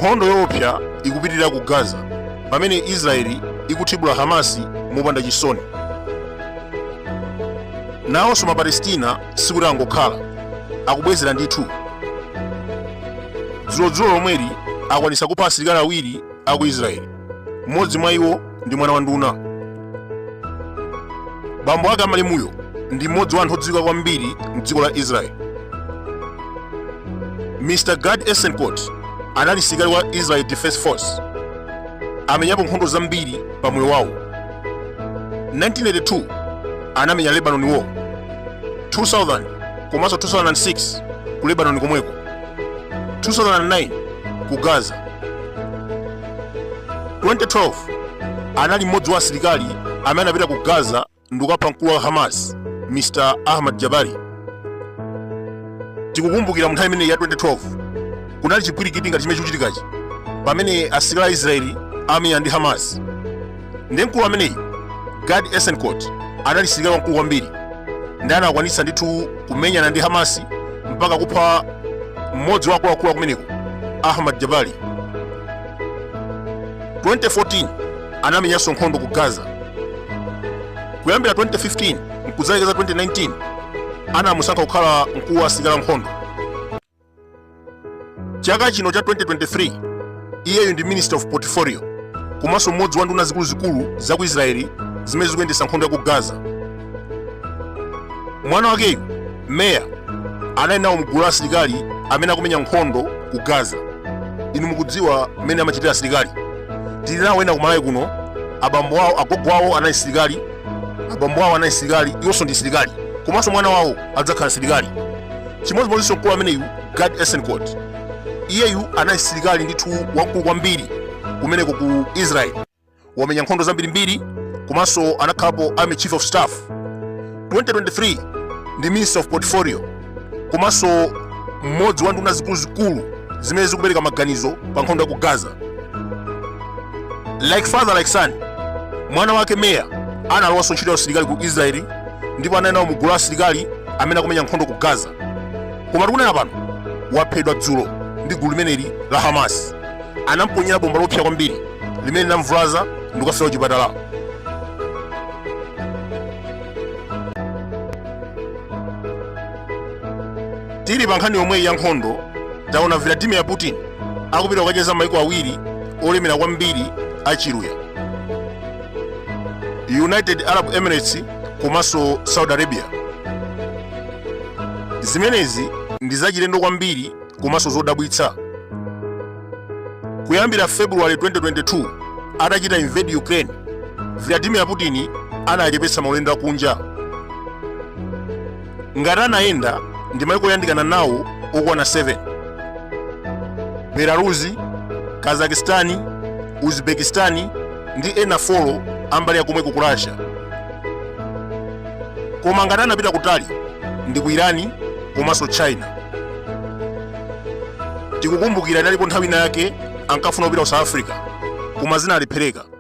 nkhondo yoopsa ikupitirira ku gaza pamene israeli ikuthibula hamasi mopanda chisoni nawonso mapalestina sikuti angokhala akubwezera ndithu dzulodzulo lomweli akwanisa kupha asilikali awiri aku israeli mmodzi mwa iwo ndi mwana wa nduna bambo ake amalemuyo ndi mmodzi wa anthu odziwika kwambiri mdziko la israeli mr gad eisenkot anali msilikali wa israel defense force amenyapo nkhondo zambiri pa moyo wawo 1982 anamenya lebanon war 2000 komanso 2006 ku lebanon komweko 2009 ku gaza 2012 anali mmodzi wa asilikali amene anapita ku gaza ndikukapha mkulu wa hamas mr ahmad jabari tikukumbukira mu nthawi imeneyi ya 2012 kunali chipwirikiti ngati chimene chikuchitikachi pamene asilikali a israeli amamenyana ndi hamas ndiye mkulu ameneyu gad eisenkot anali msilikali wamkulu kwambiri ndipo anakwanitsa ndithu kumenyana ndi hamasi mpaka kupha mmodzi wa akuluakulu akumeneko ahmad jabari 2014 anamenyanso nkhondo ku gaza kuyambira 2015 mkudzalekeza 2019 anamusankha kukhala mkulu wa asilikali ankhondo chaka chino cha 2023 iyeyu ndi minister of portfolio komanso mmodzi wa nduna zikuluzikulu za ku israeli zimene zikuyendetsa nkhondo ya ku gaza mwana wakeyu meir anali nawo mgulu la asilikali amene akumenya nkhondo ku gaza inu mukudziwa mmene amachitira asilikali tili nawo ena kumalawi kuno abambo awo agogo awo anali asilikali abambo awo anali asilikali iwonso ndi asilikali komanso mwana wawo adzakhala msilikali chimodzimodzinso mkulu ameneyu gad eisenkot iyeyu anali msilikali ndithu wamkulu kwambiri kumeneko ku israeli wamenya nkhondo zambirimbiri komanso anakhalapo army chief of staff 2023 ndi minister of portfolio komanso mmodzi wa nduna zikuluzikulu zimene zikupereka maganizo pa nkhondo ya ku gaza like father like son mwana wake meir analowanso ntchito ya usilikali ku israeli ndipo anali nawo mu gulu la asilikali amene akumenya nkhondo ku gaza koma tikunena pano waphedwa dzulo ndi gulu limeneli la hamas anamponyera bomba loopsa kwambiri limene linamvulaza ndi kukafera kuchipatala tili pa nkhani yomweyi ya nkhondo taona vladimir putin akupita kukacheza maiko awiri olemera kwambiri achiluya united arab emirates komanso saudi arabia zimenezi ndi zachilendo kwambiri komanso zodabwitsa kuyambira february 2022 atachita invade ukraine vladimir putin anachepetsa maulendo akunja ngati anayenda ndi maiko oyandikana nawo okwana 7 belarusi kazakistani uzbekistani ndi ena 4 ambali ya komweko ku russia koma ngati anapita kutali ndi ku irani komanso china tikukumbukira inalipo nthawi ina yake ankafuna kupita ku south africa koma zinalephereka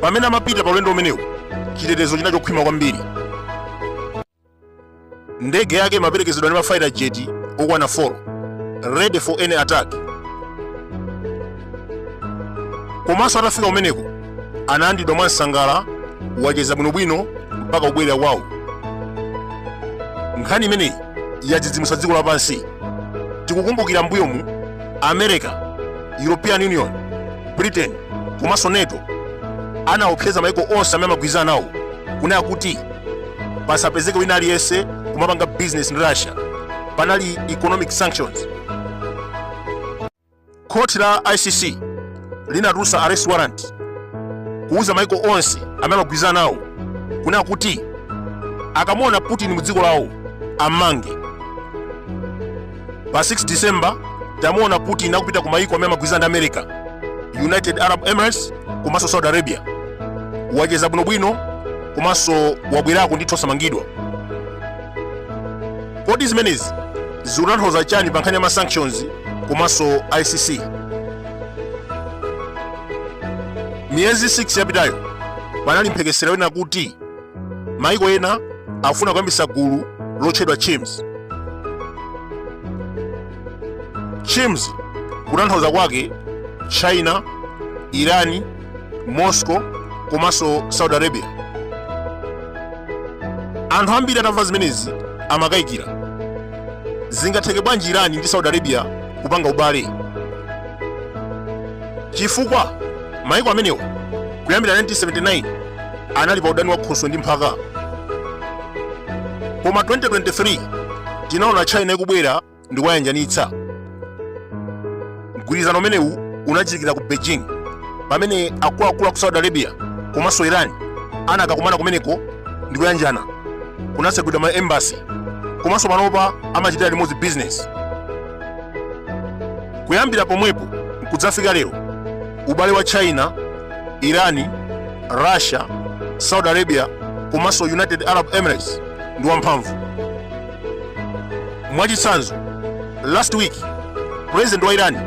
pamene amapita pa ulendo umenewu chitetezo chinali chokhwima kwambiri ndege yake imaperekezedwa ndi mafaita jeti okwana 4 ready for any attack komanso atafika kumeneko analandiridwa mwansangala wacheza bwinobwino mpaka kubwerera kwawo nkhani imeneyi yadzidzimutsa dziko lapansi tikukumbukira mbuyomu america european union britain komanso nato anaopseza maiko onse amene amagwirizana nawo kunena kuti pasapezeko wina aliyense kumapanga business ndi russia panali economic sanctions khoti la icc linatulutsa arrest warrant kuuza maiko onse amene amagwirizana nawo kunena kuti akamuona putin mu dziko lawo ammange pa 6 december tamuona putin akupita ku mayiko amene amagwirizana ndi america united arab emirates komanso saudi arabia wacheza bwinobwino komanso wabwerako ndithu osamangidwa kodi zimenezi zikutanthauza chani pa nkhani ya ma sanctions komanso icc miyezi 6 yapitayo panali mphekesera wonena kuti Maiko ena afuna kuyambitsa gulu lotchedwa Chims. Chims kutanthauza kwake China, Iran, Moscow komanso Saudi Arabia. Anthu ambiri atamva zimenezi amakayikira. Zingatheke bwanji Iran ndi Saudi Arabia kupanga ubale? Chifukwa maiko amenewa kuyambira 1979 anali pa udani wa khoswe ndi mphaka koma 2023 tinaona china ikubwera ndi kuwayanjanitsa mgwirizano umenewu unachitikira ku beijing pamene akuluakulu a ku saudi arabia komanso iran anakakumana kumeneko ndi kuyanjana kunatsegulidwa ma embassy komanso panopa amachitira limodzi business kuyambira pomwepo nkudzafika lero ubale wa china irani russia saudi arabia komanso united arab emirates ndi wamphamvu mwachitsanzo last week president wa irani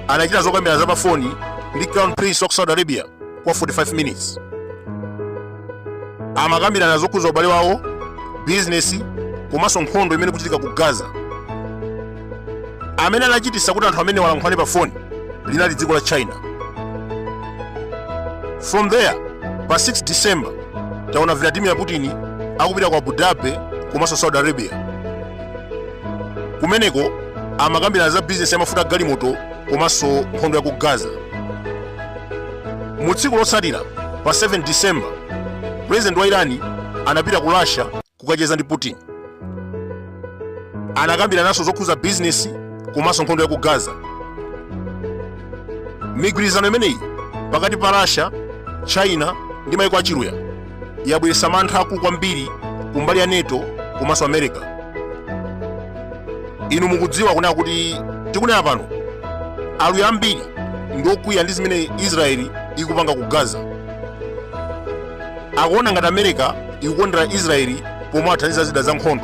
anachita zokambirana za pafoni ndi crown prince wa ku saudi arabia kwa 45 minutes amakambirana zokhudza ubale wawo bizinesi komanso nkhondo imene ikuchitika ku gaza amene anachititsa kuti anthu amenewa alankhulane pa foni linali dziko la china from there pa 6 december taona vladimir putin akupita ku abu dhabi komanso saudi arabia kumeneko amakambirana za bizinesi yamafuta agalimoto komanso nkhondo ya ku gaza mu tsiku lotsatira pa 7 december president wa irani anapita ku russia kukacheza ndi putin anakambirananso zokhuza bizinesi komanso nkhondo ya ku gaza migwirizano imeneyi pakati pa russia china ndi maiko achiluya yabweretsa mantha akulu kwambiri kumbali ya nato komanso america inu mukudziwa kunena kuti tikunena pano aluya ambiri ndi okwiya ndi zimene israeli ikupanga ku gaza akuona ngati america ikukondera israeli pomawathandiza zida za nkhondo